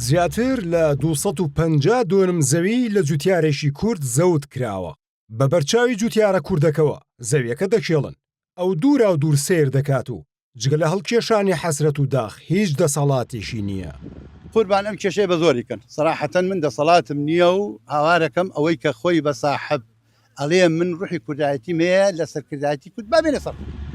زیاتر لە دوو سەد و پەنجا دۆنم زەوی لە جوتیارێکی کورد زەوت کراوە، بە بەرچاوی جوتیارە کوردەکەوە زەویەکە دەکێڵن، ئەو دوراو دوور سەیر دەکات و جگە لە هەڵکێشانی حەسرەت و داخ هیچ دەسەڵاتێکی نییە. قوربان ئەم کێشەیە بە زۆری کەن سەراحەتەن من دەسەڵاتم نییە و هاوارەکەم ئەوەی کە خۆی بە ساحەب ئەڵێم من ڕوحی کوردایەتی مەیە لە سەرکردایەتی کورد با بێنە سەر قوت.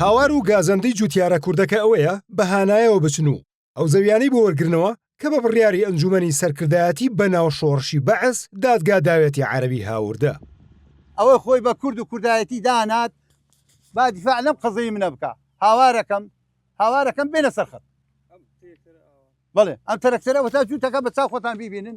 هاوار و گازەندەی جووتیارە کوردەکە ئەوەیە بە هانایەوە بچن و ئەو زەویانەی بۆ وەرگرنەوە کە بە بڕیاری ئەنجوومەنی سەرکردایەتی بە ناو شۆڕشی بەعس دادگا داوێتی عەرەبی هاوردە. ئەوەی خۆی بە کورد و کوردایەتی دانات با دیفاع لەم قەزەی منە بکا هاوارەکەم هاوارەکەم بێنە سەر خەت. بەڵێ ئەم تەرەکتەرە وەتا جووتەکە بە چاو خۆتان بیبینن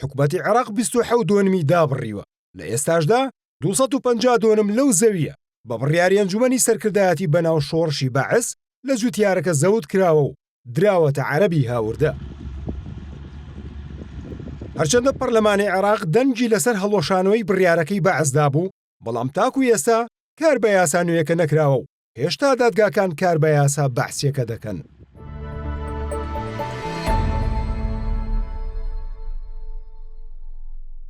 حکومەتی عێراق بیست و حەوت دۆنمی دابڕیوە، لە ئێستاشدا دوو سەد و پەنجا دۆنم لەو زەوییە بە بڕیاری ئەنجومەنی سەرکردایەتی بەناو شۆڕشی بەعس لە جوتیارەکە زەوت کراوە و دراوەتە عەرەبی هاوردە. هەرچەندە پەرلەمانی عێراق دەنگی لەسەر هەڵوەشانەوەی بڕیارەکەی بەعس دابوو، بەڵام تاکو ئێستا کار بە یاسا نوێیەکە نەکراوە و هێشتا دادگاکان کار بە یاسا بەعسیەکە دەکەن.